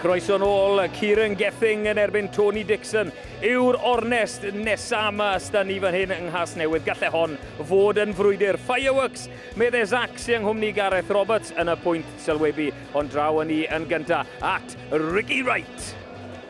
Croeso nôl, Kieran Gething yn erbyn Tony Dixon yw'r ornest nesa yma ysda ni fan hyn yng Nghas Newydd. Gallai hon fod yn frwydr. Fireworks, meddai Zac sy'n nghwmni Gareth Roberts yn y pwynt sylwebu. Ond draw yn ni yn gynta at Ricky Wright.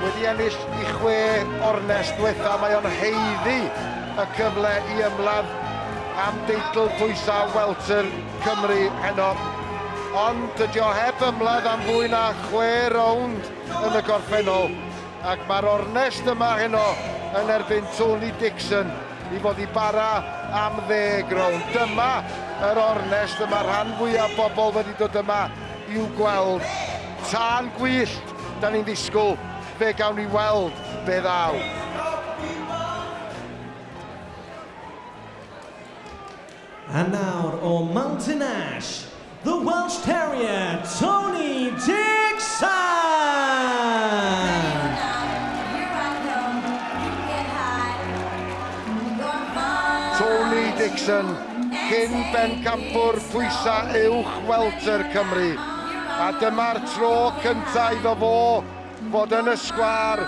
Wedi ennill i chwe o'r nes dwetha, mae o'n haeddu y cyfle i ymladd am deitl pwysau welter Cymru heno. Ond dydy o heb ymladd am fwy na chwe rownd yn y gorffennol, ac mae'r ornest yma heno yn erbyn Tony Dixon i fod i bara am ddeg rownd. Dyma yr ornest y mae rhan fwyaf bobl wedi dod yma i'w gweld. Tân gwyllt! Da ni'n ddisgwyl fe gawn ni weld be ddaw. And nawr o Mountain Ash, the Welsh Terrier, Tony Dixon! Tony Dixon Cyn bencampwr pwysau uwch welter Cymru, a dyma'r tro cyntaf iddo fo fod yn y sgwâr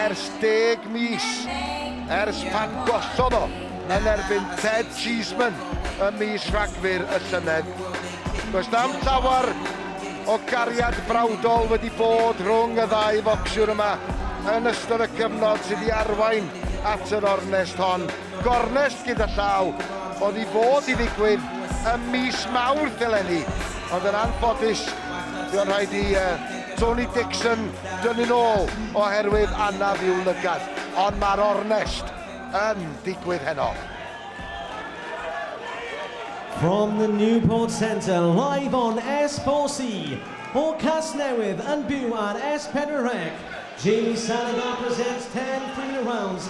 ers deg mis, ers pan gollodd o yn erbyn Ted Cheeseman ym mis Rhagfyr y llynedd. Does na'm llawer o gariad brawdol wedi bod rhwng y ddau focsiwr yma yn ystod y cyfnod sydd i arwain at yr ornest hon. Gornest gyda llaw oedd i fod i ddigwydd ym mis Mawrth eleni, ond yn anffodus buon rhaid i Tony Dixon dynnu'n ôl oherwydd anaf i'w lygad, ond mae'r ornest yn digwydd heno. From the Newport Centre, live on S4C, o Casnewydd yn byw ar S4C, Jamie Salazar presents 10 free rounds,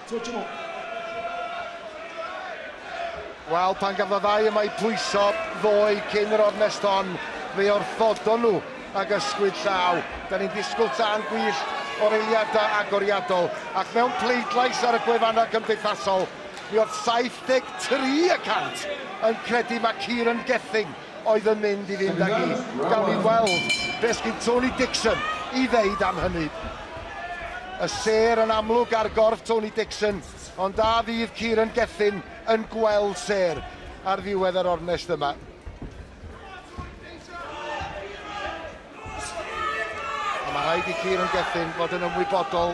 Tro tymor. Wel, pan gafodd y ddau yma i pwyso ddoe cyn yr ornest hon, fe orthodon nhw ag ysgwyd llaw. Da ni'n disgwyl tân gwyllt o'r eiliadau agoriadol, ac mewn pleidlais ar y gwefannau cymdeithasol, mi oedd 73 y cant yn credu mae Kieran Gething oedd yn mynd i fynd ag i. Gawn ni weld beth sydd Tony Dixon i ddeud am hynny. Y sêr yn amlwg ar gorff Tony Dixon, ond a fydd Kieran Gethin yn gweld sêr ar ddiwedd yr ornest yma? A mae rhaid i Kieran Gethin fod yn ymwybodol,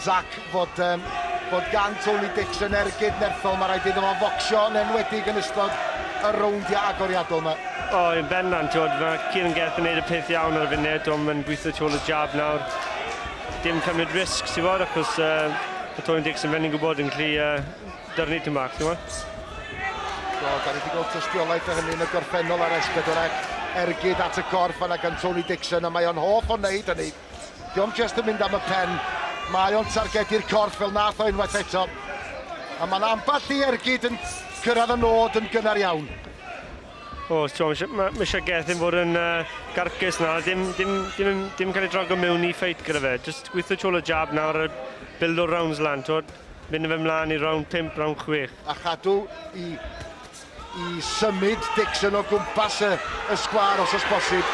Zac, fod, um, bod gan Tony Dixon ergyd nerthol. Mae rhaid iddo fo focsio yn enwedig yn ystod y rowndiau agoriadol yma. O, oh, yn bendant, tiwod, mae Kieran Gethin yn neud y peth iawn ar y funud, ond mae'n gweithio tu ôl y jab nawr. Dim cymryd risg, tiwod, achos uh, mae Tony Dixon fe'n ni'n gwybod yn gallu uh, Darn i bach, ti'n gwybod? So, da ni wedi gweld tystiolaeth o hynny yn y gorffennol ar S4C. Ergyd at y gorff fanna gan Tony Dixon, a mae o'n hoff o wneud hynny. Diolch just yn mynd am y pen. Mae o'n targedu'r corff fel nath o unwaith eto. A mae yna ambell i ergyd yn cyrraedd y nod yn gynnar iawn. O, ti'n mae eisiau Gethin fod yn uh, garcus na, dim, dim, dim, dim, dim cael ei drago mewn i ffeit gyda fe. Just gweithio tŵl y jab nawr a build o'r rounds lan, ti'n Mynd fe mlaen i rownd pump, rownd chwech. A chadw i, i symud Dixon o gwmpas y, y sgwar os oes bosib.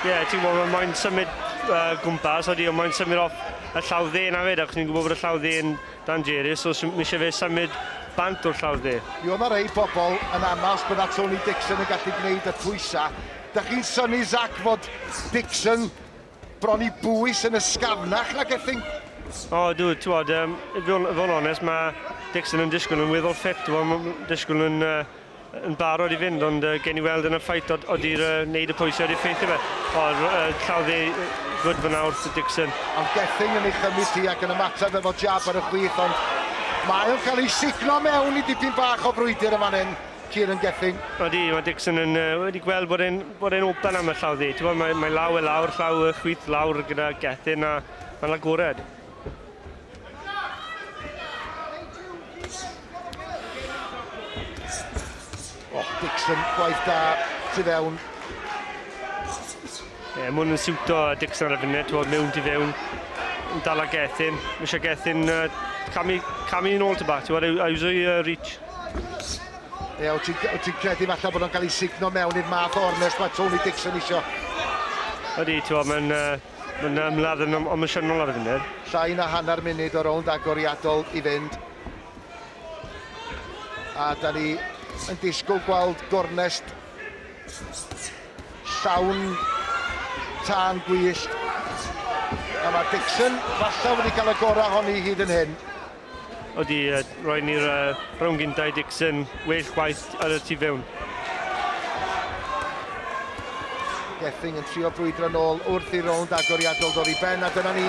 Ie, yeah, ti'n gwybod, mae'n moyn symud uh, gwmpas, oeddi, ond mae'n symud off y llaw dde na fed, ac ni'n gwybod bod y llaw dde yn dan Jerus, so mi eisiau fe symud bant o'r llaw dde. Mi oedd yna rei bobl yn annas bod na Tony Dixon yn gallu gwneud y pwysau. Da chi'n syni, Zach, fod Dixon Bron i bwys yn ysgafnach na Gething. O, dw, twod, um, fod yn onest, mae Dixon yn disgwyl yn weddol ffit, mae'n disgwyl yn, uh, yn barod i fynd, ond uh, gen i weld yn y ffait od, odi'r uh, neud y pwysau wedi ffeithio fe. O, uh, llaw dde, gwyd fyna wrth y Dixon. Ond Gething yn ei chymryd hi ac yn ymateb efo jab ar y chwith, ond mae o'n cael ei signo mewn i dipyn bach o frwydr yma fan hyn. Kieran Gethin. Odi, mae Dixon yn, uh, wedi gweld bod e'n, bod e'n open am y llaw ddi. Ti'n gwybod, mae, mae law e lawr, llaw y chwith lawr gyda Gethin a mae'n agored. Oh, Dixon, gwaith da, tu fewn. Ie, yeah, mwyn yn siwto Dixon ar y funud, ti'n gwybod, mewn tu fewn. Yn dal ag Gethin. Mae eisiau Gethin uh, camu, camu yn ôl ty bach, ti'n gwybod, a uso i uh, reach. Ie, wyt ti'n ti credu falle bod o'n cael ei signo mewn i'r math o ornest mae Tony Dixon isio? Ydy, ti'n bod, mae'n ma ymladd yn emosiynol ar y funud. Llai na hanner munud o rownd agoriadol i fynd. A da ni yn disgwyl gweld gornest llawn tân gwyllt. A mae Dixon falle wedi cael y gorau honi hyd yn hyn. Ydy, roedd ni'r rownd gyntaf Dixon well chwaith ar y tu fewn. Gething yn trio brwydro nôl wrth i'r rownd agoriadol ddod i ben, a dyna ni.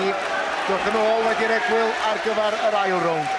Diolch yn ôl wedi'r egwyl ar gyfer yr ail rownd.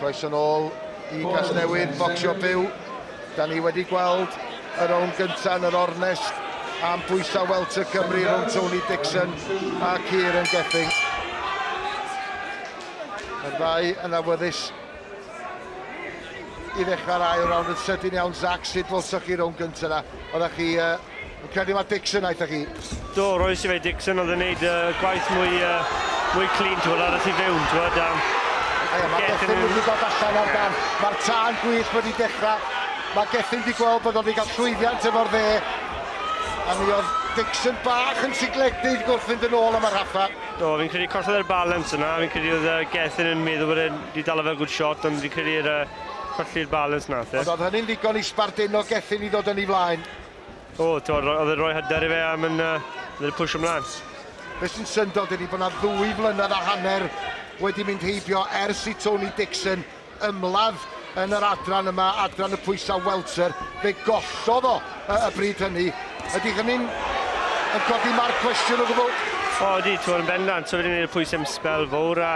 Croeso nôl i Gasnewydd Bocsio Byw. Da ni wedi gweld y rownd gyntaf yn yr ornest am bwysau welter Cymru rhwng Tony Dixon a Kieran Gething. Mae'r ddau yn awyddus i ddechrau'r ail rownd yn sydyn iawn. Zach, sut welsoch chi rownd gyntaf yna? Oeddech chi uh, Fi'n credu mae Dixon aethoch chi. Do, roes i fe i Dixon, oedd yn neud y gwaith mwy, mwy clean, ti'n gwybod, ar y tu fewn, ti'n gwybod, am... Ie, mae Gethin wedi dod allan ar gan, mae'r tân gwyllt wedi dechrau, mae Gethin wedi gweld bod o'n wedi cael llwyddiant efo'r dde, a mi oedd Dixon bach yn sigledig wrth fynd yn ôl am y rhaffa. Do, fi'n credu collodd e'r balance yna, fi'n credu oedd uh, Gethin yn meddwl bod e'n wedi dal fel good shot, ond fi'n credu'r uh, colli'r balance nath e. Ond oedd hynny'n ddigon i sbardino Gethin i ddod yn ei flaen? O, t'mod, oedd e'n rhoi hyder i fe a mynd uh, pwysio mlaen. Be sy'n syndod ydy bod yna ddwy flynedd a hanner wedi mynd heibio ers i Tony Dixon ymladd yn yr adran yma, adran y pwysau welter. Fe gollodd o y, y bryd hynny. Ydy hynny'n yn codi marc cwestiwn o gwbl? O, ydy, ti'n yn bendant. So, fe ni'n gwneud y pwysau am sbel fawr a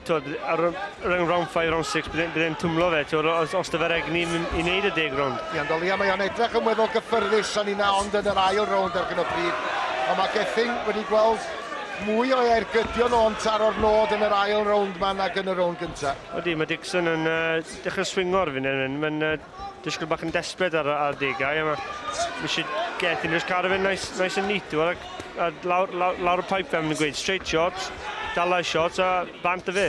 T'wod ar y run round five round six bydd e'n bydd e'n twmlo fe t'wod o- os os do fe'r egni i i neud y deg rownd. Ian Dolia mae o'n edrych yn weddol gyffyrddus a ninna ond yn yr ail rownd ar hyn o bryd ond mae Gething wedi gweld mwy o ergydion o'n taro'r nod yn yr ail rownd ma nag yn y rownd gynta. Odi mae Dixon yn yy dechre swingo ar funud mae'n yy disgwyl bach yn desbryd ar y adegau, a mae eisiau get yn just cadw fe'n nice, nice and neat, a, a lawr, lawr, lawr y pipe fel maen nhw'n gweud, straight shot, dalai shot a bant y fe.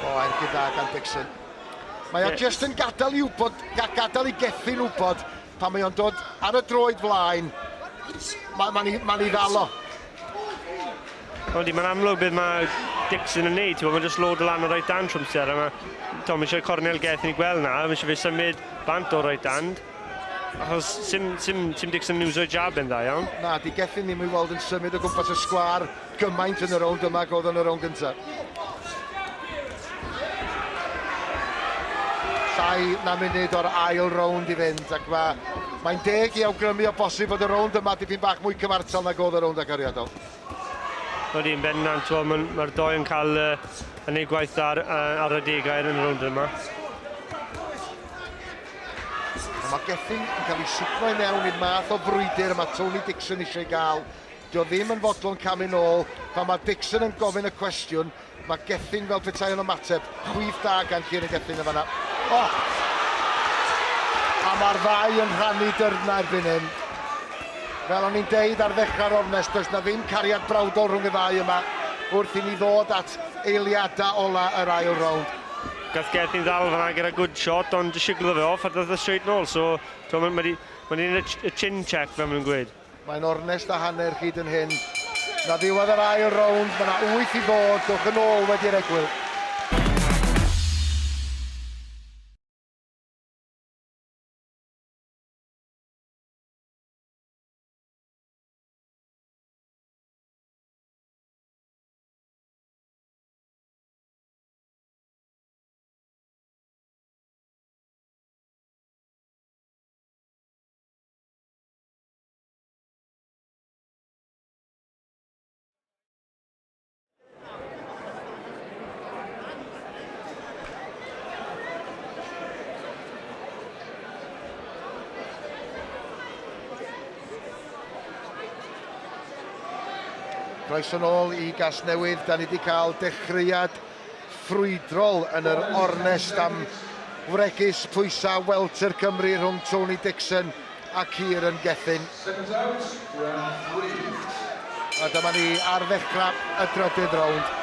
O, er gyda Dan Dixon. Mae o yeah. just yn gadael i wybod, gadael i gethu'n wybod Pan mae o'n dod ar y droed flaen, mae'n ma, ma, ma ddalo. Ond mae'n amlwg beth mae Dixon yn neud, mae'n just load lan o right hand trwm sydd ar yma. Tom, mae eisiau cornel geth ni gweld na, mae eisiau fe symud bant o right hand. Achos sim, sim, sim Dixon yn uso jab yn dda iawn. Na, di geth ni ddim i weld yn symud o gwmpas y sgwar. gymaint yn y rownd yma ag oedd yn y rownd gyntaf. Llai na munud o'r ail rownd i fynd ac mae mae'n deg i awgrymu o bosib fod y rownd yma dipyn bach mwy cyfartal nag oedd y rownd agoriadol. Ydy, yn bendant, mae'r doi yn cael uh, yn ei gwaith ar, uh, ar y degau yn y rownd yma. Mae Gethin yn cael ei sicro i mewn i'r math o frwydr y mae Tony Dixon eisiau gael Dio ddim yn fodlon camu nôl, pan mae Dixon yn gofyn y cwestiwn, mae Gething fel petai o'n ymateb. Chwith da gan Kieran Gething yn fanna. O! A mae'r ddau yn rhannu dyrna erbyn hyn. Fel o'n i'n deud ar ddechrau'r ornest, does na ddim cariad brawdol rhwng y ddau yma wrth i ni ddod at eiliadau ola yr ail rownd. Gath Gething ddal fanna gyda good shot ond jyst siglodd fe off a dath e straight nôl so mae 'di ma 'di neud y chin check fel maen nhw'n gweud. Mae'n ornest a hanner hyd yn hyn. Na ddiwedd yr ail rownd, mae yna wyth i ddod, dwch yn ôl wedi'r egwyl. Croeso nôl i Gasnewydd, da ni wedi cael dechreuad ffrwydrol yn yr ornest am wregys pwysau Welter Cymru rhwng Tony Dixon a Kieran Gethin. A dyma ni ar ddechrau y drydydd rownd.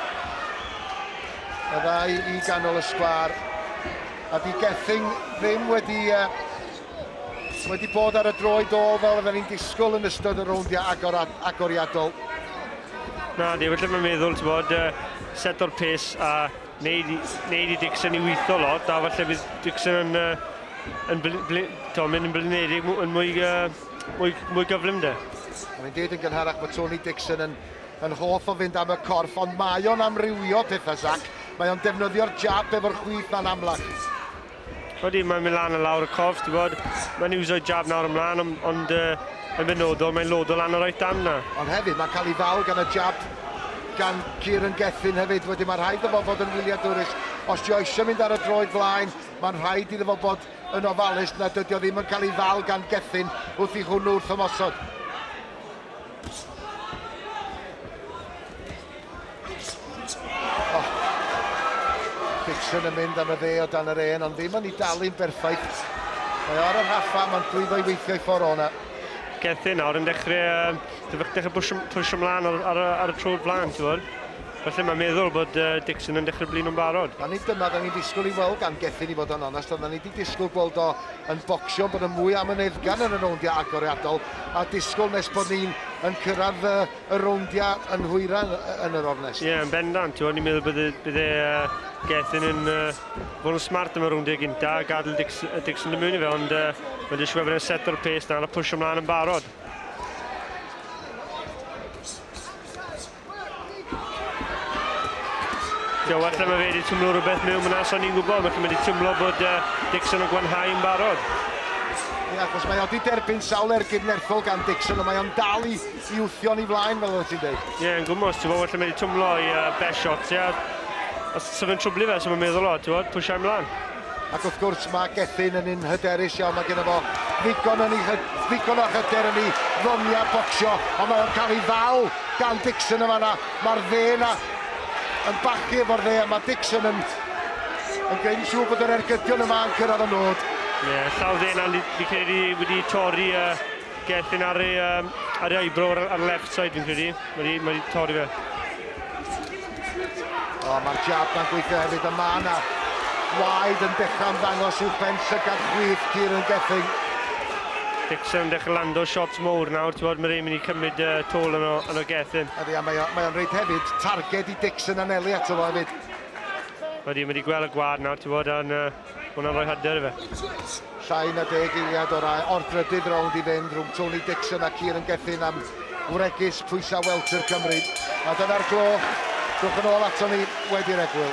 Y ddau i ganol y sgwâr. A di Gething ddim wedi uh, wedi bod ar y droed ôl fel oedden ni'n disgwyl yn ystod y rowndiau agor a agoriadol. Na, di, felly mae'n meddwl, ti'n bod, set o'r pes a neud, neud i Dixon i weithio lot, a falle bydd Dixon yn, uh, yn bl, bl, to, mynd yn blinedig yn mwy, uh, mwy, mwy gyflym de. Mae'n dweud yn gynharach bod Tony Dixon yn, yn hoff o fynd am y corff, ond mae o'n amrywio pethau, Zac. Mae o'n defnyddio'r jab efo'r chwith, ma'n amlach. Odi, mae'n mynd lan a lawr y corff, ti'n bod. Mae'n iwsio'i jab nawr ymlaen, ond, ond uh, yn benodol, mae'n lodo lan y right hand na. Ond hefyd, mae'n cael ei ddal gan y jab gan Kieran Gethin hefyd. Wedyn, mae'n rhaid fo fod yn wyliadwrus. Os ti oeso'n mynd ar y droed flaen, mae'n rhaid iddo fo bod yn ofalus na dydy o ddim yn cael ei ddal gan Gethin wrth i hwnnw wrth ymosod. Dixon yn mynd am y dde o dan yr en, ond ddim yn ei dalu'n berffaith. Mae o ar y rhaffa, mae'n llwyddo i weithio i ffordd o'na. Gethin nawr yn dechrau, uh, dechrau pwysio mlaen ar, ar, ar y trwy'r flaen, ti'n fawr. Felly mae'n meddwl bod uh, Dixon yn dechrau blin o'n barod. A nid dyma dda ni'n disgwyl i weld gan Gethin i fod o'n onest, ond dda ni wedi disgwyl gweld o yn bocsio, bod yn mwy am yn eddgan yn y rowndiau agoriadol, a disgwyl nes bod ni'n yn cyrraedd uh, y rowndiau yn hwyran yn yr ornest. Ie, yeah, yn bendant, ti'n ni'n meddwl bydde, bydde uh, Gethin yn uh, bod yn smart am y rowndiau gynta, a gadael Dixon, Dixon yn mynd i fe, ond uh, mae'n disgwyl bod e'n set o'r pes na, a pwysio ymlaen yn barod. Joe, allai mae fe wedi tymlo rhywbeth mewn fyna, so ni'n gwybod, felly mae wedi tymlo bod uh, Dixon yn gwanhau yn barod. Ie, yeah, achos mae wedi derbyn sawl ergyd nerthol gan Dixon, ond mae o'n dal i, i wthio ni flaen, fel oedd ti'n dweud. Ie, yeah, yn gwmwys, ti'n bod, felly mae wedi tymlo i uh, best shot, ie. Yeah. Os sef yn trwblu fe, sef yn meddwl o, ti'n bod, pwysiau mlaen. Ac wrth gwrs mae Gethin yn un hyderus iawn, mae genno fo ddigon yn ei hy- ddigon o hyder yn ei ddoniau bocsio, ond mae o'n cael ei ddal gan Dixon yn fanna. Mae'r dde yna yn bachu efo'r dde, a mae Dixon yn yn gwneud yn siŵr bod yr ergydion yma yn cyrraedd y nod. Ie, yeah, llaw dde yna, fi fi credu wedi torri uh, Gethin ar ei, um, ar ei eyebrow ar, ar left side fi'n credu. Mae wedi, mae wedi torri fe. O, mae'r jab ma'n gweithio hefyd, a mae yna waed yn dechrau ymddangos i'w pen llygad chwith Kieran Gething. Dixon yn dechrau lando shots mowr nawr, ti'n bod, mae rhaid mynd i cymryd uh, tôl yn o, yn o Gethin. Ydy, a mae o'n rhaid hefyd targed i Dixon anelu ato fo hefyd. Ydy, mae wedi gweld y gwad nawr, ti'n bod, yn... Uh... Hwnna'n rhoi hyder i fe. Llai na deg eiliad o'r ail, o'r drydydd rownd i fynd rhwng Tony Dixon a Kieran Gethin am wregys pwysau welter Cymru. A dyna'r gloch. Dwch yn ôl ato ni wedi'r egwyl.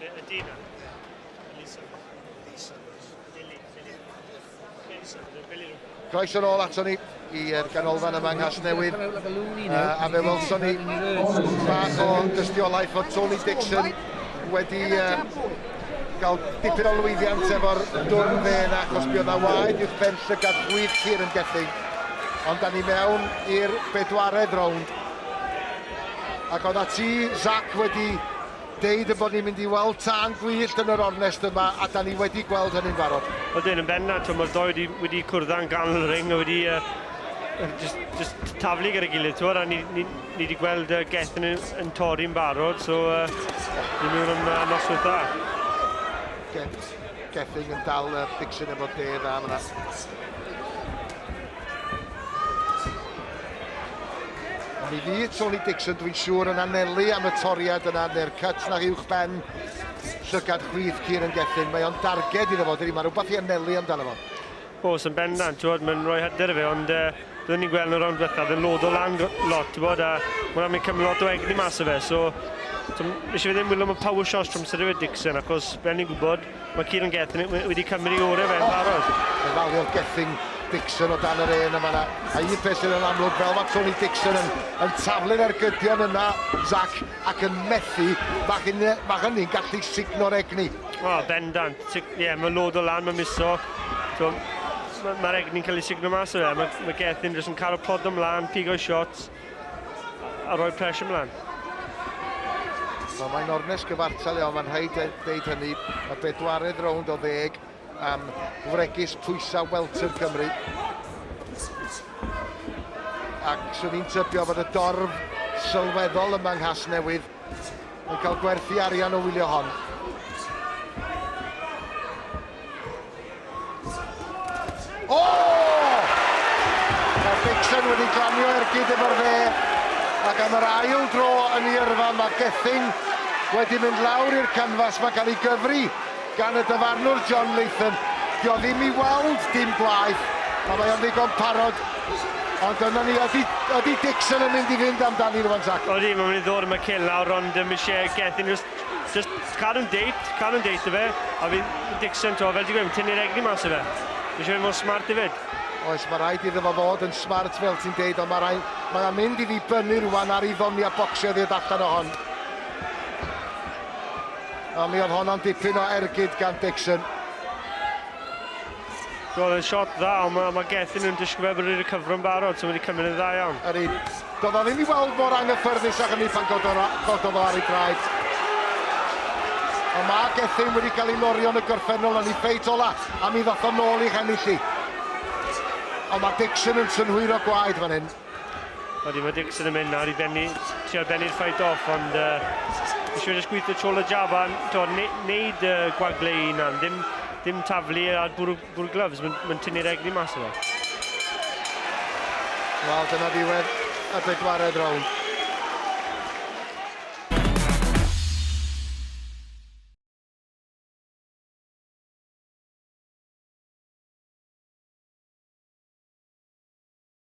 Be ydy na? Elisa. Elisa. Billy. Billy. Elisa. Billy. Croeso nôl ato ni i'r ganolfan yma yng Nghasnewydd. Uh, a fe welson ni bach o dystiolaeth fod Tony Dixon wedi uh, gael dipyn o lwyddiant efo'r dwrn fe yna, achos mi oedd na waed i'w pen llygad gwydd Kieran Gething. Ond da ni mewn i'r bedwaredd rownd. Ac oeddat ti, Zac, wedi deud ein bod ni'n mynd i weld tân gwyllt yn yr ornest yma, a 'dan ni wedi gweld hynny'n barod. Ydyn, yn bennaf, t'mo' ma'r ddou wedi wedi cwrdd yn ganol y ring a wedi yy yy jyst jyst t- taflu gyda'i gilydd t'mod a ni ni ni 'di gweld yy Gethin yn yn torri'n barod so yy i ni ddim yy noswyth dda. Geth- Gethin yn dal yy Thicson efo dê dda fan 'na. Ond i fi, Tony Dixon, dwi'n siŵr yn anelu am y toriad yna neu'r cut na uwch ben llygad chwith Kieran Gethin. Mae o'n darged iddo fo, dydy, mae rhywbeth i anelu amdano fo. Os yn bendant, ti'n bod, mae'n rhoi hyder i fe, ond uh, byddwn ni'n gweld yn y rownd diwethaf, oedd yn lod o lan lot, ti'n bod, a mae'n amlwg cymryd lot o egni mas o fe, so, so eisiau fe ddim wylo am y power shots trwy amser Dixon, achos, fel ni'n gwybod, Mae Kieran Gethin wedi cymryd i orau fe'n barod. Mae'n falio Gethin Dixon o dan yr un yma na. A un peth sydd yn amlwg, fel mae Tony Dixon yn, yn taflu'r ergydion yna, Zac, ac yn methu, mae hynny, mae hynny'n gallu signo'r egni. O, oh, bendant. Ie, yeah, mae lod o lan, mae miso. So, Mae'r egni'n cael ei signo mas o fe. Mae, mae Gethin jyst yn cael y plod ymlaen, pigo'i shots. a rhoi pres ymlaen. Wel, mae'n ornes gyfartal iawn, mae'n rhaid dweud hynny. Y bedwaredd rownd o ddeg am wregis pwysau welter Cymru. Ac swn i'n tybio bod y dorf sylweddol yma yng Nghasnewydd Mae'n cael gwerthu arian o wylio hon. O! Mae Dixon wedi glanio ergyd efo'r fe. Ac am yr ail dro yn ei yrfa, mae Gething wedi mynd lawr i'r canfas. Mae'n cael ei gyfri Gan y dyfarnwr John Latham, dio ddim i weld dim blaen, a mae o'n ddigon parod, ond dyna ni, ydi, ydi Dixon yn mynd i fynd amdani rwan Zac? Odi, mae'n mynd i ddod yn y cil nawr, ond ddim isie geth unrhyw, just cadw'n deit, cadw'n deit i fe, a fi'n Dixon to, fel ti'n gweud, tynnu'r egni mas i fe, mae isie fe mor smart hefyd. Oes, mae rhaid iddo fo fod yn smart fel ti'n deud, ond mae rhaid, mae o'n mynd i ddibynnu rwan ar ei ddoniau bocsio i ddod allan o hon. A mi oedd honno'n dipyn o ergyd gan Dixon. Roedd yn shot dda, ond mae, mae Gethin yn disgwyl fe bod wedi cyfro'n barod, so mae wedi cymryd yn dda iawn. Yr un. Doedd o ddim i weld mor anghyffyrddus ag hynny pan gododd o, gododd o ar ei draed. Ond mae Gethin wedi cael ei norio yn y gorffennol yn ei ffeit ola, a mi ddoth o nôl i'ch ennill hi. Ond mae Dixon yn synhwyro gwaed fan hyn. Wedi mae Dixon yn mynd nawr i bennu, ti ar bennu'r ffait off, ond uh, eisiau jyst gweithio tol y jab a to, ne, neud uh, gwagle i hunan, ddim, ddim taflu ar bwrw, bwrw gloves, mae'n ma tynnu'r egni mas o fe. Wel, dyna ddiwedd y bedwared rownd.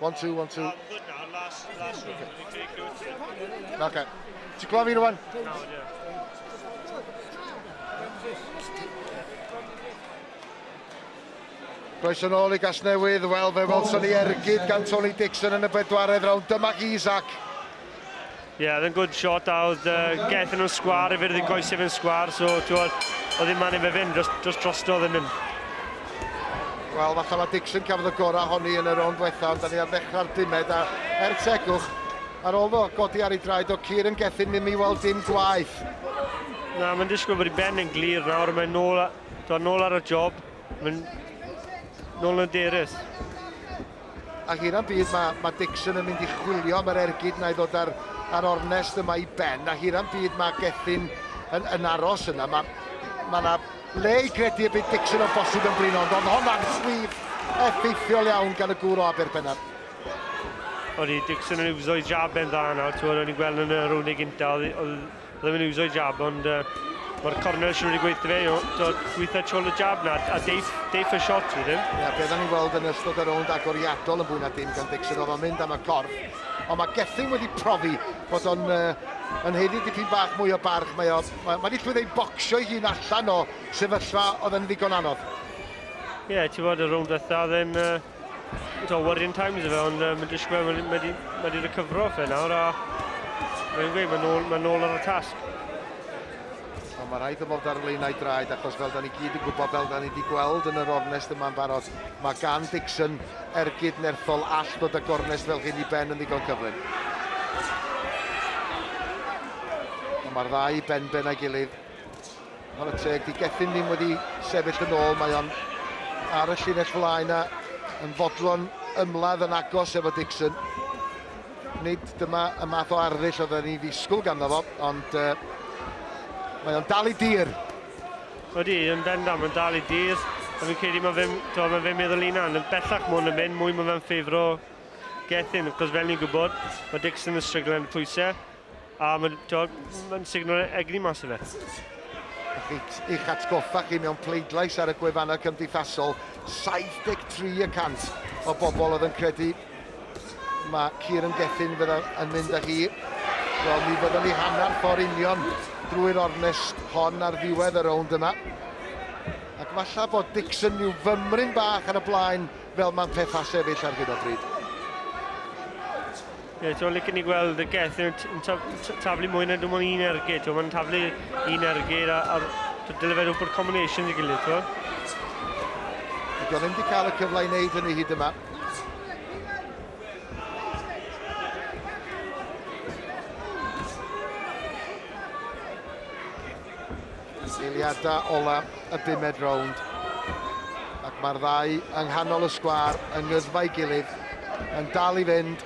One, two, one, two. Okay. Ti'n clywed fi rwan? No, Croeso nôl i Gasnewydd, wel fe welson ni ergyd gan Tony Dixon yn y bedwaredd round, dyma Isaac. Ie, oedd yn good shot a oedd uh, gethon nhw'n sgwar, efe oedd yn goesef yn sgwar, so oedd, oedd yn man efe fynd dros, dros drosto oedd yn mynd. Wel, falle mae Dixon cafodd y gorau honni yn y rownd diwetha, ond da ni ar ddechrau'r bumed, a er tegwch, ar ôl fo godi ar ei draed o Cyr yn gethin ddim i weld dim gwaith. Na, mae'n disgwyl bod i ben yn glir nawr, mae'n nôl, a, nôl ar y job, mae'n nôl yn derys. Ac yna byd mae, mae Dixon yn mynd i chwilio am yr ergyd na i ddod ar, ar ornest yma i ben. Ac yna byd mae Gethin yn, yn aros yna. Mae, mae yna le i gredu y bydd Dixon o bosib yn blino, ond oedd hon ar swydd effeithiol iawn gan y gŵr o Aberpennar. Odi, Dixon yn iwso'i jab e'n dda nawr, ti'n gwybod, o'n i'n gweld yn y rownd ei gynta, oedd, oedd Rwy'n mynd i uso'i jab ond uh, mae'r corners wedi gweithio fe, dod gweithio twl y jab na, a deif, deif y shot fi ddim. Ia, beth ni'n gweld yn ystod y rownd agoriadol yn fwy na dim gan Dixon, oedd o'n mynd am y corff. Ond mae Gethin wedi profi bod o'n uh, yn heiddi dipyn bach mwy o barch. Mae, o, mae, mae wedi llwyddo i bocsio ei hun allan o sefyllfa oedd yn ddigon anodd. Ie, yeah, ti'n fod y rownd dda, then... Uh... Mae'n worrying times efe, ond uh, mae'n disgwyl, mae wedi ma recyfro fe nawr, a mae'n gweud, mae'n ôl, ma ôl ar y tasg. Ond mae rhaid ymwneud ar y leinau draed, achos fel da ni gyd yn gwybod, fel da ni wedi gweld yn yr ornest yma'n barod, mae gan Dixon ergyd nerthol all dod â gornest fel hyn i ben yn ddigon cyflym. Ond mae'r ddau ben ben a'i gilydd, Chwarae teg, 'di Gethin ddim wedi sefyll yn ôl, mae o'n ar y llinell flaen a yn fodlon ymladd yn agos efo Dixon. Nid dyma y math o arddull oedden ni'n ddisgwyl ganddo fo, ond uh, mae o'n dal i dir. Odi, yn bendant, mae'n dal i dir. A fi'n credu mae fe'n mae fe meddwl un an, yn bellach mwyn yn mynd, mwy mae fe'n ffefro Gethin, cos fel ni'n gwybod, mae Dixon yn stryglen pwysau, A mae'n ma signo egni mas yna. I'ch atgoffa chi mewn pleidlais ar y gwefannau cymdeithasol, 73 y cant o bobl oedd yn credu mae Kieran Gethin fydda yn mynd â hi. So mi fyddwn ni hanner ffordd union drwy'r ornest hon ar ddiwedd y rownd yma. Ac falle bod Dixon rhyw fymryn bach ar y blaen fel mae'n pethau sefyll ar hyn o bryd. Ie, ti'n licen i gweld y geth yn taflu mwy na dim ond un ergyd. Ti'n mae'n taflu un ergyd a, a dyle fe rhywbeth combination i gilydd, ti'n Dwi'n ddim wedi cael y cyfle i wneud hynny hyd yma. Eiliadau ola y bumed rownd ac mae'r ddau yng nghanol y sgwâr yng ngyddfau gilydd yn dal i fynd.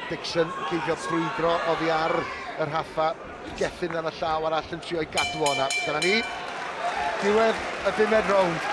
Dixon yn ceisio brwydro oddi ar y rhaffa. Gethin ar y llaw arall yn trio'i gadw o'na. Dyna ni. Diwedd y bumed rownd.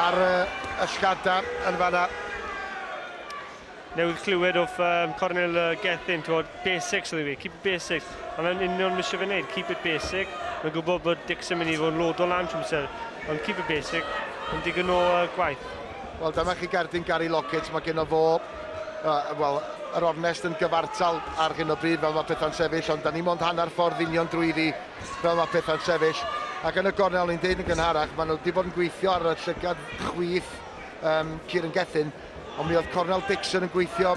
ar y llgada yn fanna. Newydd clywed of um, Cornel uh, Gethin, ti'n gwybod, basics oedd i fi, keep it basics. A mae'n union misio fe wneud, keep it basic. Mae'n gwybod bod Dix yn mynd i fod yn lodo lan trwy amser, ond keep it basic, yn digon o uh, gwaith. Wel, dyma chi gerdyn Gary Lockett, mae gen o fo, uh, wel, yr ornest yn gyfartal ar hyn o bryd fel mae pethau'n sefyll, ond da ni mond hanner ffordd union drwy ddi Fel mae pethau'n sefyll, ac yn y gornel o'n i'n deud yn gynharach, maen nhw wedi bod yn gweithio ar y llygad chwith um, Kieran Gethin, ond mi oedd cornel Dixon yn gweithio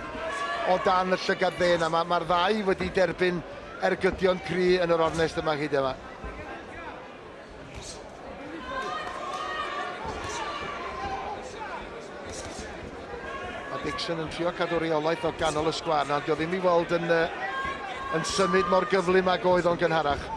o dan y llygad dde yna. Mae'r ma ddau wedi derbyn ergydion cry yn yr ornest yma hyd yma. A Dixon yn trio cadw reolaeth o ganol y sgwar na, ond dio ddim i weld yn, uh, yn symud mor gyflym ag oedd o'n gynharach.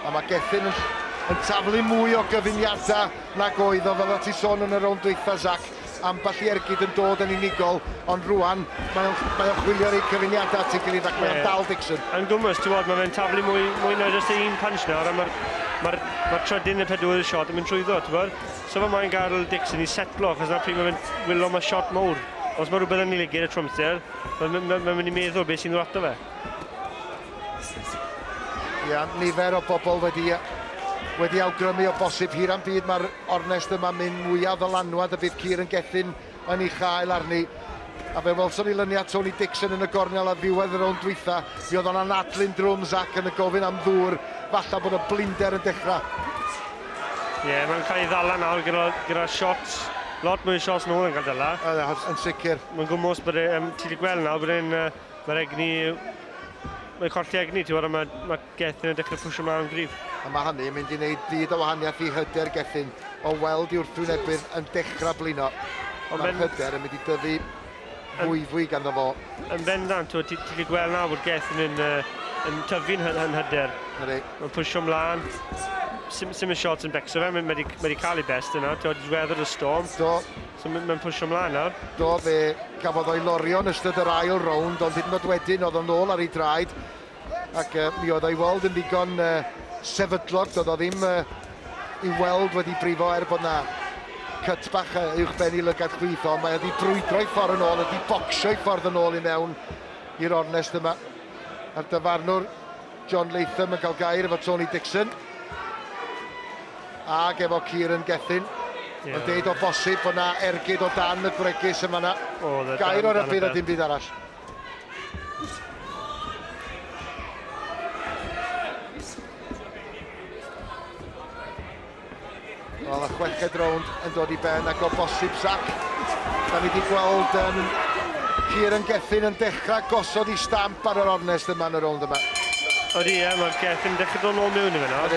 A mae Gethin yn yn taflu mwy o gyfuniadau nag oedd o, fel ti sôn yn y rownd dwytha, Zac. ambell i ergyd yn dod yn unigol, ond rwan mae o'n mae o'n chwilio rei cyfuniadau at ei gilydd ac mae o'n dal Dixon. Yn gwmws, ti'n gwybod, mae fe'n taflu mwy, mwy na jyst un punch nawr, a mae'r ma ma trydydd neu pedwydd shot yn mynd trwyddo, ti'n gwybod? So fe mae'n gael Dixon i setlo, achos na pryd mae fe'n wylo mae shot mowr. Os mae rhywbeth yn ei ligyd y trwmster, mae'n mynd i meddwl beth sy'n ddod ato fe. Ia, nifer o bobl wedi wedi awgrymu o bosib hir am byd mae'r ornest yma mynd mwyaf ddylanwad y bydd Keir yn gethin yn ei chael arni. A fe welson ni lyniad Tony Dixon yn y gornel ar ddiwedd yr rownd dwytha, mi oedd o'n anadlu'n drwm Zac yn y gofyn am ddŵr, falla bod y blinder yn dechrau. Ie, yeah, mae'n cael ei ddala nawr gyda, gyda shots, lot mwy o shots nôl yn cael dyla. Yn, yn sicr. Mae'n gwmwys bod e, um, ti wedi gweld nawr bod e'n uh, Mae'r egni... Mae'n colli egni, ti'n gwybod, mae, mae Gethin yn dechrau pwysio mlaen yn gryf. A mae hynny yn mynd i wneud byd o wahaniaeth i hyder Gethin o weld i wrthwynebydd yn dechrau blino. Ond mae'r hyder yn mynd i dyfu fwyfwy ganddo fo. Yn bendant, ti'n ti, ti gweld nawr bod Gethin yn, uh, yn tyfu'n hyder. Mae'n pwysio mlaen. Sim, sim y shots yn becso fe, mae wedi cael ei best yna, ti'n gwybod, weather the storm. Do, So mae'n pwsio mlaen nawr. Do, fe gafodd o'i lorio yn ystod yr ail rownd, ond hyd yn oed wedyn oedd o'n ôl ar ei draed. Ac uh, mi oedd o'i weld yn ddigon uh, sefydlog, doedd o ddim uh, i weld wedi brifo er bod na cut bach uh, uwch ben i lygad chwith, ond mae wedi brwydro i ffordd yn ôl, wedi bocsio i ffordd yn ôl i mewn i'r ornest yma. A'r dyfarnwr John Latham yn cael gair efo Tony Dixon. Ag efo Kieran Gethin. Yeah. Yn deud o bosib bod na ergyd o dan y gwregys yn fanna. Oh, gair o'r yfydd a dim byd arall. Wel, y chweched rownd yn dod i ben ac o bosib, Zac, da ni wedi gweld um, Kieran Gethin yn dechrau gosod i stamp ar yr ornest yma yn y rownd yma. Oeddi, ie, mae Gethin dechrau dod nôl mewn i fe nawr.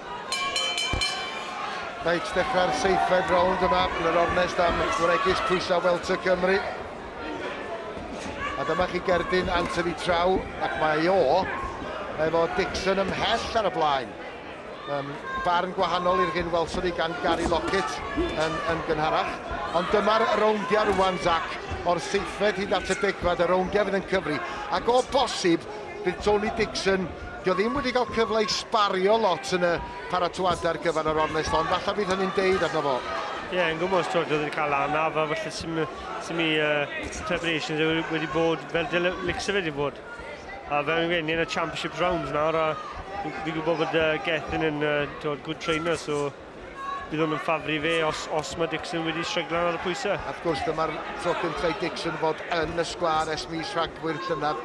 Reit, dechrau'r seithfed rownd yma yn yr ornest am wregis pwysau welter Cymru. A dyma chi gerdyn Anthony Traw, ac mae o efo Dixon ymhell ar y blaen. Um, barn gwahanol i'r hyn welson ni gan Gary Lockett yn, yn gynharach. Ond dyma'r rowndiau rwan, Zac, o'r seithfed hyd at y degfad, y rowndiau fydd yn cyfri. Ac o bosib, Bydd Tony Dixon, dio ddim wedi cael cyfle i sbario lot yn y paratoadau ar gyfer yr ornest hon, falle bydd hynny'n deud arno fo. Ie, yeah, yn gwybod, twyd, oedd wedi cael anaf, a felly sy'n mi uh, preparations wedi bod fel delics y wedi bod. A fel yn ni yn y championships rounds nawr, a fi'n gwybod bod uh, Gethin yn uh, good trainer, so Bydd hwn yn ffafr i fe os, os mae Dixon wedi stryglan ar y pwysau. Wrth gwrs, dyma'r tro cyntaf i Dixon fod yn y sgwâr ers mis Rhagfyr llynedd,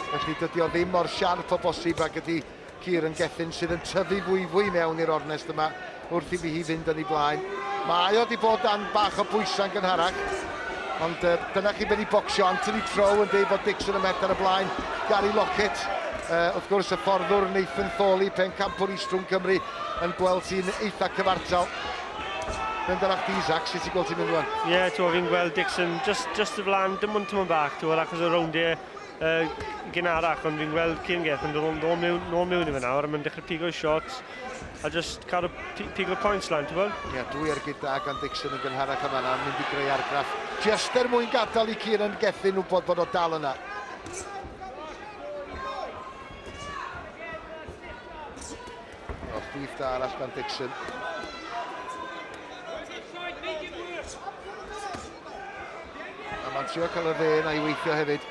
felly dydy o ddim mor siarp o bosib ag ydy Kieran Gethin, sydd yn tyfu fwyfwy mewn i'r ornest yma wrth i mi hi fynd yn ei blaen. Mae o wedi bod dan bach o bwysau'n gynharach, ond uh, dyna chi ben i bocsio. Anthony Trow yn dweud bod Dixon yn mell ar y blaen. Gary Lockett, uh, wrth gwrs, y fforddwr Nathan Thorley, pen campwr Eastrum Cymru, yn gweld ti'n eitha cyfartal. Benderach di, Zach, sut ti'n gweld ti'n mynd rwan? Ie, yeah, ti'n fi'n gweld Dixon just, just y flan, dim ond tymor bach, ti'n gweld, achos y rowndiau uh, gynharach, ond fi'n gweld Cyrngeth yn dod nôl mewn, nôl mewn i fe nawr, a mae'n dechrau pigo i shots, a just cadw pigo points lan, ti'n gweld? Ie, yeah, dwi ar gyda gan Dixon yn gynharach yma nawr, mynd i greu argraff. Just er mwyn gadael i Kieran Gethin wybod bod o dal yna. Off brif da arall gan Dixon. A mae'n trio cael y fe na i weithio hefyd.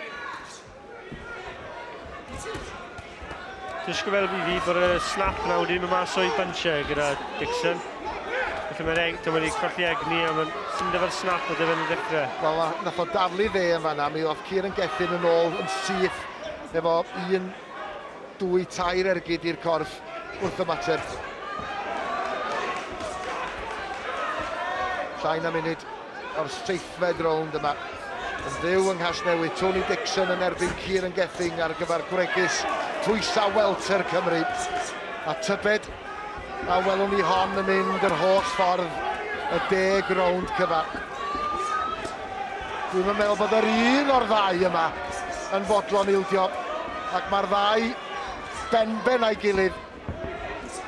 Dysgu fel fi fi bod y slap na wedi mynd mas o'i buncher gyda Dixon. Felly mae'n egni, dyma wedi colli egni a mae'n syndod o'r snap o dyfyn y dechrau. Wel, nath o daflu fe yn fanna, mi oedd Kieran Gethin yn ôl yn syth efo un Dwy, tair ergyd i'r corff wrth ymateb. Llai na munud o'r seithfed rownd yma. Yn fyw yng Nghasnewydd, Tony Dixon yn erbyn Kieran Gething ar gyfer gwregys Twysa Welter Cymru. A tybed A welwn ni hon yn mynd yr holl ffordd y deg rownd cyfan. Dwi'm yn meddwl bod yr un o'r ddau yma yn fodlon ildio ac mae'r ddau benben a'i gilydd.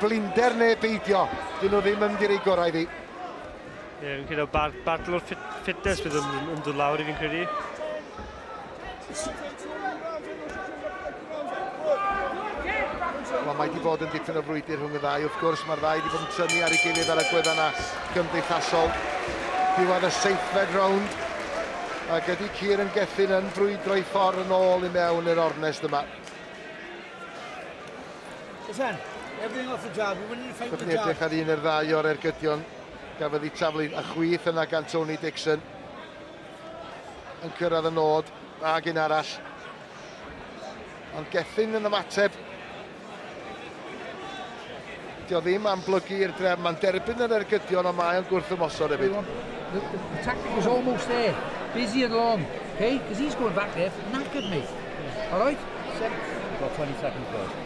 Blinder neu beidio, dyn nhw ddim yn mynd i roi gorau iddi. Ie, fi'n credu bar, bartl o'r ffit, fitness bydd yn, yn dod lawr i fi'n credu. Wel, mae wedi bod yn dipyn o frwydr rhwng y ddau. Wrth gwrs, mae'r ddau wedi bod yn tynnu ar ei gilydd ar y gwedda yna gymdeithasol. Diwedd y seithfed rownd. Ac ydy Cyr yn Gethyn yn brwydro i ffordd yn ôl i mewn i'r ornest yma. Listen, everything off the job. We're winning the fight with the job. Byddwn edrych ar un i'r ddau o'r ergydion Cafodd ei taflu a chwith yna gan Tony Dixon. Yn cyrraedd y nod, dda gyn arall. Ond Gethin yn ymateb. Dio ddim am blygu i'r drefn, mae'n derbyn yr ergydion ond mae o'n gwrthymosod hefyd. The, the tactic was almost there. Busy and long. Okay? Because he's going back there, knackered mate. Alright? Seven, got 20 seconds left.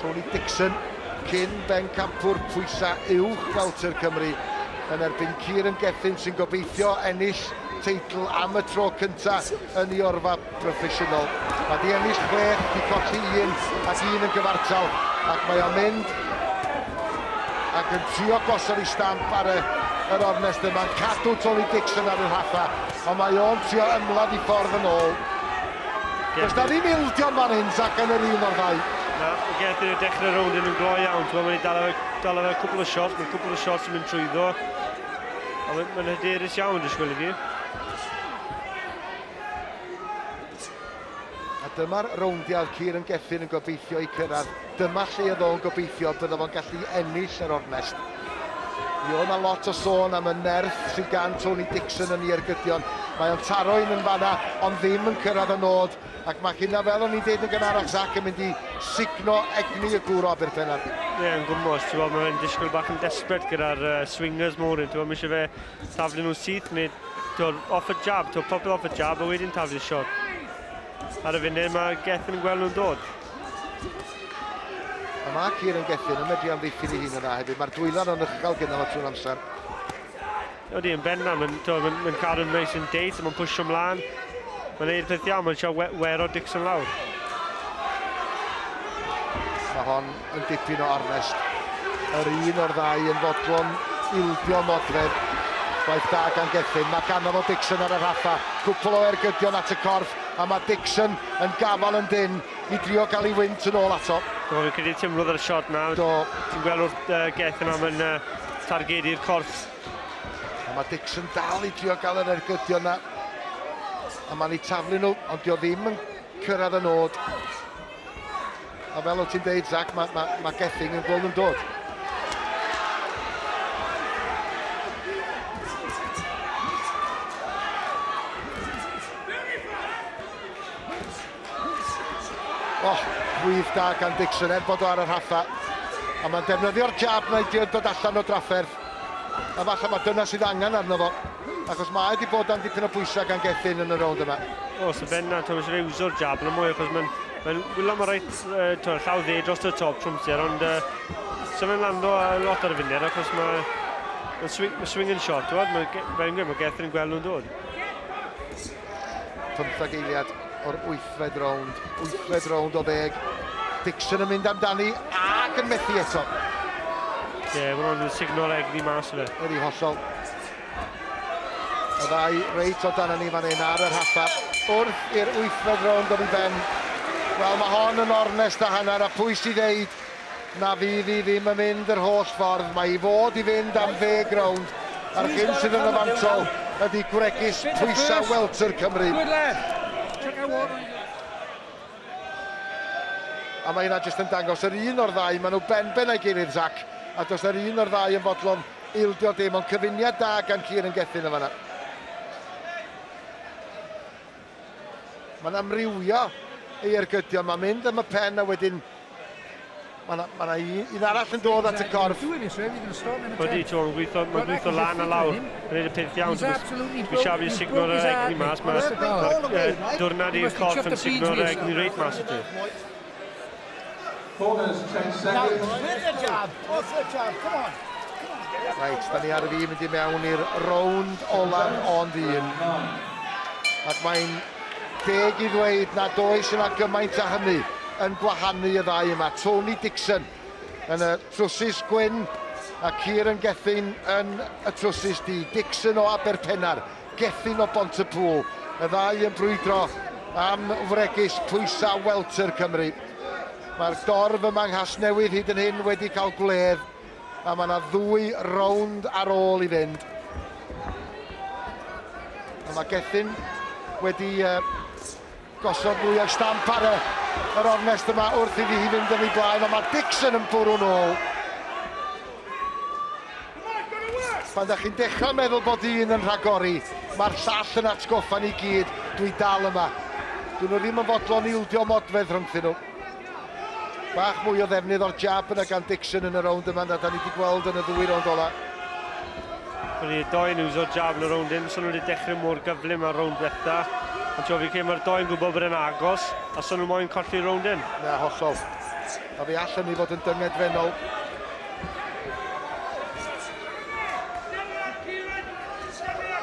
Tony Dixon, cyn bencampwr pwysa uwch welter Cymru, yn erbyn Kieran Gethin sy'n gobeithio ennill teitl am y tro cynta yn ei orfa broffesiynol. Mae di ennill chwech, di colli un ac un yn gyfartal ac mae o'n mynd ac yn trio gosod ei stamp ar y yr ornest yma'n cadw Tony Dixon ar y rhatha, ond mae o'n trio ymladd i ffordd yn ôl. Does 'na ddim ildio yn fan hyn, Zak, yn yr un o'r ddau. Na, mae Gertyn yn dechrau rownd yn yn glo iawn. Ti'n gwybod, mae'n ei dal ar y cwbl o shots, mae'n cwbl o shots yn mynd trwyddo. A mae'n ma hyderus iawn, dwi'n sgwylio di. A dyma'r rowndiau oedd Kieran Gethin yn gobeithio i cyrraedd. Dyma lle oedd o'n gobeithio bydda fo'n gallu ennill yr ornest. Mi oedd yna lot o sôn am y nerth sydd gan Tony Dixon yn ei ergydion. Mae o'n taro un yn fanna, ond ddim yn cyrraedd y nod. Ac mae hynna, fel o'n i'n deud yn gynharach, Zac yn mynd i sugno egni y gŵr o Aberfennan. Ie, yeah, yn gwmwys. Ti'n gwybod, mae'n disgwyl bach yn desbryd gyda'r uh, swingers mawr. Ti'n gwybod, mae eisiau fe taflu nhw syth, neu ti'n off y jab, ti'n popeth off y jab, a wedyn taflu siot. Ar y funud, mae Gethin yn gweld nhw'n dod. A mae Cyr yn gethin, yn medru amddiffyn ei hun yna hefyd. Mae'r dwylan yn uchel gyda fo trwy'r amser. Oeddi yn benna, mae'n mae, mae cadw'n neis yn deud, mae'n pwysio mlaen. Mae'n neud peth iawn, mae'n siarad we, wero Dixon lawr. Mae hon yn dipyn o arnest. Yr un o'r ddau yn fodlon ildio modred. Gwaith da gan Gethin. Mae ganddo fo Dixon ar y rhaffa. Cwpl o ergydion at y corff. a mae Dixon yn gafael yn dynn i drio gael ei wynt yn ôl ato. Do, fi'n credu timlodd ar y siot na. Do. Ti'n gweld wrth uh, Geth yma mae'n uh, targedu'r corff. A mae Dixon dal i drio gael yr ergydion na. A mae'n ei taflu nhw, ond dio ddim yn cyrraedd y nod. A fel o ti'n deud, Zach, mae ma, ma Gething yn gweld yn dod. Oh, gwydd da gan Dixon, er bod o ar y rhaffa. A mae'n defnyddio'r jab na i dio'n dod allan o drafferth. A falle mae dyna sydd angen arno fo. achos mae wedi bod am dipyn o bwysau gan Gethin yn y rownd yma. O, so Ben a Thomas wedi iwsio'r jab yn y mwy, achos mae'n mae wylo mae reit uh, to, llaw dde dros y top trwmser, ond uh, so fe'n lando a lot ar y funud, achos mae mae'n swing, mae swing yn shot, ti'n mae, fe'n gwneud, mae Gethin yn gweld nhw'n dod. Pymthag eiliad o'r wythfed rownd, wythfed rownd o ddeg. Dixon yn mynd amdani ac yn methu eto. Ie, yeah, mae'n rhoi signal egni mas o fe. Wedi hollol. Fflint. Y ddau reit o dan ni fan hyn ar yr haffa. Wrth i'r wythfed rownd ddod i ben. Wel, mae hon yn ornest a hanner a pwy sydd ddeud na fydd hi ddim yn mynd yr holl ffordd. Mae i fod i fynd am ddeg rownd a'r hyn sydd yn y fantol ydy gwregys pwysau welter Cymru. A mae hynna jyst yn dangos yr un o'r ddau, maen nhw ben ben a'i gilydd, Zac, a does 'na'r un o'r ddau yn fodlon Ildio dim ond cyfuniad da gan Kieran Gethin yn fanna. Mae'n amrywio ei ergydion, mae'n mynd am y pen a wedyn Mae yna ma un, un arall yn dod at y corff. Wedi John gweithio, mae'n gweithio lan a lawr. Mae'n gwneud y peth iawn. Mae Xavi yn signo'r egni mas. Mae dwrnod i'r corff yn signo'r egni reit mas i ti. Corners, change seconds. Now win the job, what's the job, come on. Reit, da ni ar y fi mynd i mewn i'r rownd olaf ond un. Ac mae'n deg i ddweud nad oes yna gymaint a hynny yn gwahanu y ddau yma. Tony Dixon yn y trwsus gwyn a Kieran Gethin yn y trwsus du. Dixon o Aberpennar Gethin o Bontybŵl, y ddau yn brwydro am wregys pwysau welter Cymru. Mae'r dorf yma yng Nghasnewydd hyd yn hyn wedi cael gwledd a mae yna ddwy rownd ar ôl i fynd. A mae Gethin wedi uh, Gosod mwy ar stamp ar y, yr ornest yma wrth iddi hi fynd yn ei blaen, ond mae Dixon yn bwrw'n ôl. Pan da chi'n dechrau meddwl bod un yn rhagori, mae'r llall yn atgoffa ni gyd, dwi dal yma. Dyn nhw ddim yn fodlon ildio modfedd rhyngthyn nhw. Bach mwy o ddefnydd o'r jab yna gan Dixon yn y rownd yma na da ni wedi gweld yn y ddwy rownd ola. Wedi y doi yn uso jab yn y rownd hyn, so nhw wedi dechrau mor gyflym ar rownd diwetha. Ond ti'n fi credu mae'r doi yn gwybod bod e'n agos, a so nhw moyn colli'r rownd hyn. Na, hollol. A fe all hynny fod yn dyngedfennol.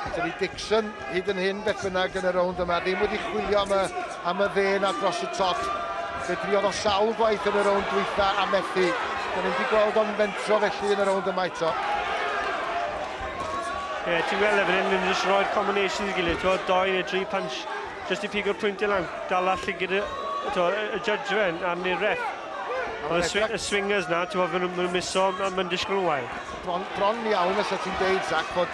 Dyna ni Dixon hyd yn hyn beth bynnag yn y rownd yma, ddim wedi chwilio am y, am y dde na dros y top. Fe driodd o sawl gwaith yn y rownd dwytha a methu. Dyna ni wedi gweld o'n fentro felly yn y rownd yma eto. Ie, yeah, ti'n gweld efo hyn, ni'n just roi'r combinations i gilydd, ti'n doi neu tri punch, just i pigo'r pwynt i lan, dal all i gyda, y judge fe, a'r ni'r ref. Ond y, swi y swingers na, ti'n gweld, maen nhw'n miso, maen nhw'n disgwyl yn wael. Bron, bron iawn os ti'n deud, Zach, bod,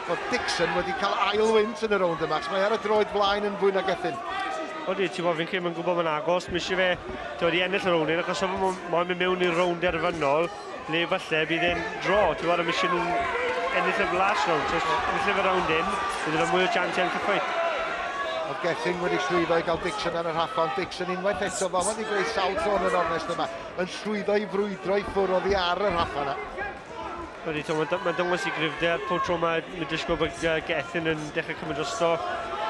bod Dixon wedi cael ail wynt yn y rownd yma, mae ar y droed blaen yn fwy na gethin. Odi, ti'n bod, fi'n credu mae'n gwybod mae'n agos, mi eisiau fe, ti'n bod, i ennill y rownd hyn, achos sef mae'n mynd mewn i'r rownd derfynol, le falle bydd e'n dro, ti'n bod, am eisiau nhw ennill y flas rownd, so yn llyfr rownd hyn, bydd e'n mwy o chance ennill y ffeit. O Gethin wedi llwyddo i gael Dixon ar y rhaffa, ond Dixon unwaith eto, fo wedi gwneud sawl tro yn yr ornest yma. yn llwyddo i frwydro i ffwrdd oddi ar y rhaffa yna. Wedi to, mae'n ma dangos i grifder pob tro mae Middlesbrough bod uh, Gethin yn dechrau cymryd drosto.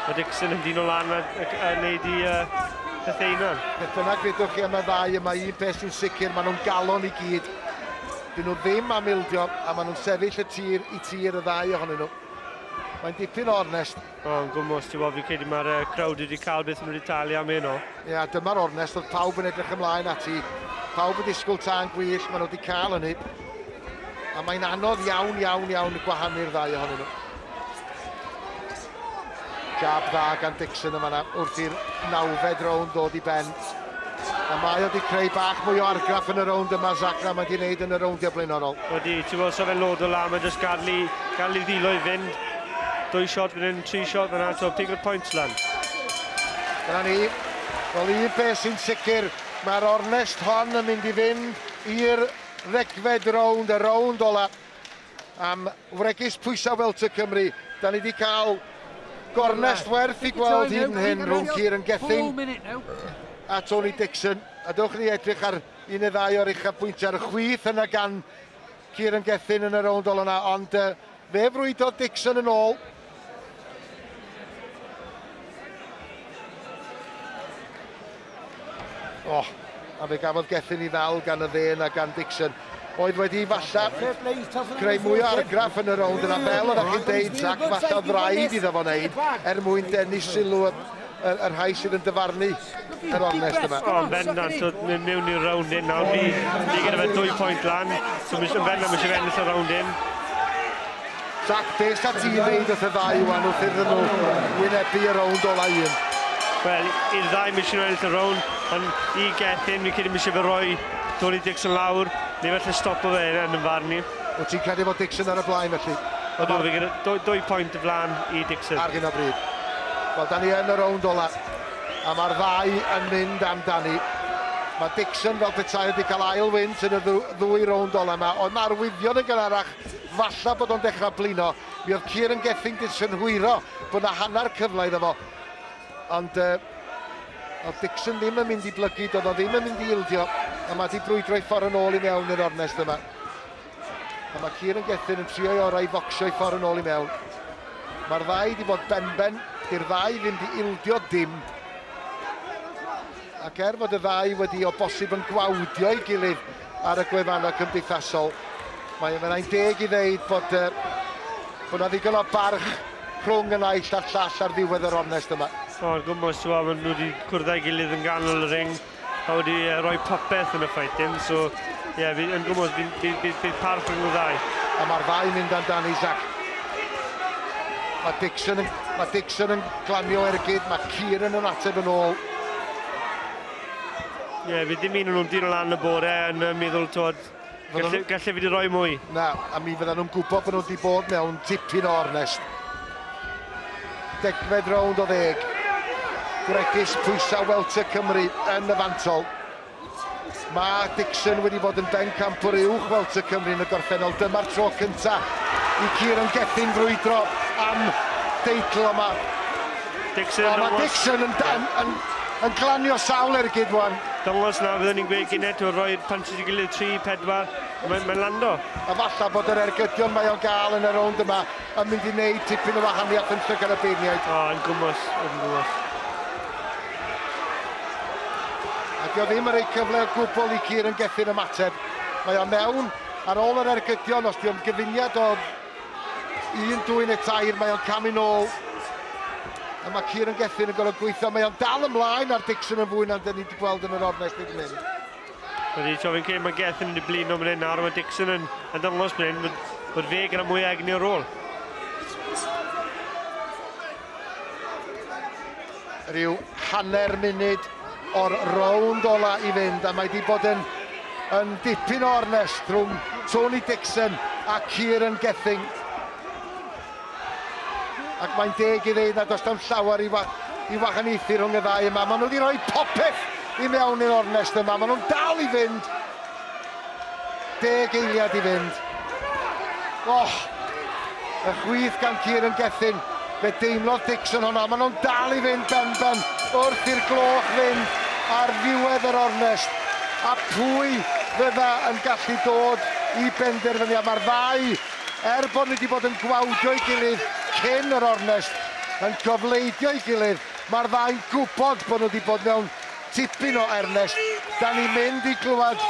Mae Dixon yn dyn o lan a, a, a wneud i uh, pethau yna. Beth bynnag fedwch chi am y ddau yma, un peth sy'n sicr, maen nhw'n galon i gyd. Dyn nhw ddim am ildio a maen nhw'n sefyll y tir i tir y ddau ohonyn nhw. Mae'n dipyn o ornest. Mae'n gwmws, ti'n bod, fi'n credu mae'r uh, crowd wedi cael beth nhw wedi talu am hyn o. Ie, yeah, dyma'r ornest oedd pawb yn edrych ymlaen ati. Pawb yn disgwyl tân gwych, maen nhw wedi cael hynny. A mae'n anodd iawn, iawn, iawn y gwahanu'r ddau ohonyn nhw. Jab dda gan Dixon yma na, wrth i'r nawfed rownd ddod i ben. A mae o wedi creu bach mwy o argraff yn y rownd yma, Zach, na mae wedi wneud yn y rowndiau blaenorol. Wedi, ti'n gweld sef e'n lod o la, mae jyst gadl i, gadl i ddilo i fynd. Dwy shot fan hyn, tri shot fan hyn, so pig o'r pwynt lan. Dyna ni. Wel, un peth sy'n sicr, mae'r ornest hon yn mynd i fynd i'r ddegfed rownd, y rownd ola. am wregys pwysau fel Tŷ Cymru. Da ni wedi cael gornest werth i gweld hyd yn hyn rhwng Kieran Gething a Tony Dixon. A dewch ni edrych ar un neu ddau o'r uchafbwyntiau ar y chwith yna gan Kieran Gething yn y rownd olaf yna, ond uh, fe frwydodd Dixon yn ôl. O, oh, a fe gafodd Gethin i ddal gan y ddên a gan Dixon. Oedd wedi i falla greu mwy o argraff yn y rownd yna, fel oeddech chi'n deud, Zach, falla ddraed iddo fo wneud er mwyn denu sylw y, y rhai sydd yn dyfarnu yr ornest yma. O, yn bendant, so, mynd mewn i'r round hyn nawr. Ni, ni gyda fe dwy pwynt lan, so mis, yn bendant mis i ennill y round hyn. Jack, beth sa ti'n neud wrth y ddau ywan wrth iddyn nhw wynebu y round ola un? Wel, i'r ddau mis misio ennill y round, ond i Gethin, fi'n credu misio fe roi Tony Dixon lawr, neu felly stopo fe yn yn farn i. Wyt ti'n credu bod Dixon ar y blaen felly? Ydw, fi gyda dwy, dwy pwynt y flan i Dixon. Ar hyn o bryd. Wel, da ni yn y rownd ola. A mae'r ddau yn mynd amdani. Mae Dixon fel petai wedi cael ail wynt yn y ddwy rownd ola yma. Oedd mae arwyddion yn gynharach, falla bod o'n dechrau blino. Mi oedd Kieran Gething 'di synhwyro bod na hanner cyfle iddo fo. Ond uh, oedd Dixon ddim yn mynd i blygu, doedd o ddim yn mynd i ildio, a mae wedi brwydro i ffordd yn ôl i mewn i'r ornest yma. A mae Cier yn Gethin yn trio'i orau i focsio i ffordd yn ôl i mewn. Mae'r ddau wedi bod benben, i'r ddau ddim di ildio dim. Ac er fod y ddau wedi o bosib yn gwawdio ei gilydd, ar y gwefannau cymdeithasol. Mae mae'n ein deg i ddeud bod uh, bod na ddigon o barch rhwng y naill a'r llall ar ddiwedd yr ornest yma. O'r gwmwys, ti'n gwybod, maen nhw wedi cwrdd â'i gilydd yn ganol y ring a wedi uh, rhoi popeth yn y ffaitin, so ie, yeah, yn gwmwys, bydd, bydd, bydd, bydd parch rhwng y ddau. A mae'r ddau mynd dan dan Isaac. Mae Dixon, yn, mae Dixon yn glanio ergyd, mae Kieran yn ateb yn ôl. Ie, fi ddim un nhw'n dyn lan y bore yn y meddwl, twod, galle, galle fi di roi mwy. Na, a mi fydda nhw'n gwybod bod nhw wedi bod mewn dipyn o ornest. Degfed rownd o ddeg. Gwregis pwysau Welter Cymru yn y fantol. Mae Dixon wedi bod yn ben campwr uwch Welter Cymru yn y gorffennol. Dyma'r tro cyntaf i Kieran Gethin frwydro am deitl yma. Dixon yn... O, mae Dixon yn, yn, yn, yn glanio sawl ergyd wan. Dangos na fyddwn ni'n gweud gynet o roi'r panti i gilydd 3, 4, mae'n mae lando. A falla bod yr ergydion mae o'n gael yn y rownd yma yn mynd i wneud tipyn o wahaniaeth yn llygad y beirniaid. O, yn gwmwys, yn gwmwys. A dio ddim yn rhoi cyfle o gwbl i Cier yn gethu'r ymateb. Mae o mewn ar ôl yr ergydion, os dio'n gyfuniad o Un, dwy neu tair, mae o'n camu nôl. A mae Kieran Gethin yn gorfod gweithio. Mae o'n dal ymlaen ar Dixon yn fwy na'n dyn ni wedi gweld yn yr ornest hyd yn hyn. Wedi troi fi'n credu mae Gethin wedi blino fan hyn nawr, mae Dixon yn, yn dangos fan hyn bod, bod fe gyda mwy o egni o'r rôl. Rhyw hanner munud o'r rownd ola i fynd a mae wedi bod yn yn dipyn o ornest rhwng Tony Dixon a Kieran Gething. Ac mae'n deg i ddeud nad oes tam llawer i, wa i wahaniaethu rhwng y ddau yma. Maen nhw wedi rhoi popeth i mewn i'r ornest yma. Maen nhw'n dal i fynd Deg eiliad i fynd. Oh! Y chwith gan Kieran Gethin. Fe deimlodd Dixon hwnna. Maen nhw'n dal i fynd benben wrth i'r gloch fynd ar ddiwedd yr ornest. A pwy fydda yn gallu dod i benderfyniad? Mae'r ddau, er bod nhw wedi bod yn gwawdio'i gilydd cyn yr ornest, yn cofleidio'i gilydd. Mae'r ddau'n gwybod bod nhw wedi bod mewn Tipyn o ernest, dan ni'n mynd i glywed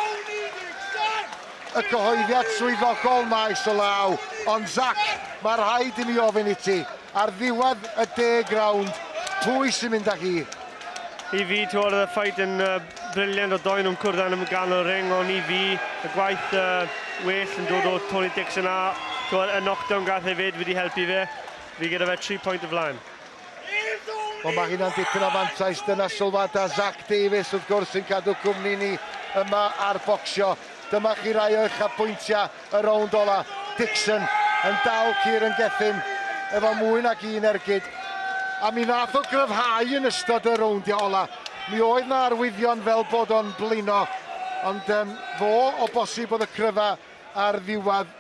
y cyhoeddiad swyddogol maes o law, ond Zac, mae rhaid i mi ofyn i ti, ar ddiwedd y deg rownd, pwy sy'n mynd â hi? I fi, ti weld oedd y ffait yn briliant o ddoe nhw'n cwrdd yn ganol y ring, ond i fi, y gwaith well yn dod o Tony Dixon a, ti weld, y knockdown gath e 'fyd wedi helpu fe, fi gyda fe tri pwynt o flaen. Wel mae hynna'n dipyn o fantais, dyna sylwadau Zach Davies wrth gwrs sy'n cadw cwmni ni yma ar Bocsio. Dyma chi rai o uchafbwyntiau y rownd ola. Dixon yn dal Kieran Gethin efo mwy nag un ergyd. A mi nath o gryfhau yn ystod y rowndiau ola. Mi oedd na arwyddion fel bod o'n blino, ond um, fo o bosib oedd y cryfa ar ddiwedd.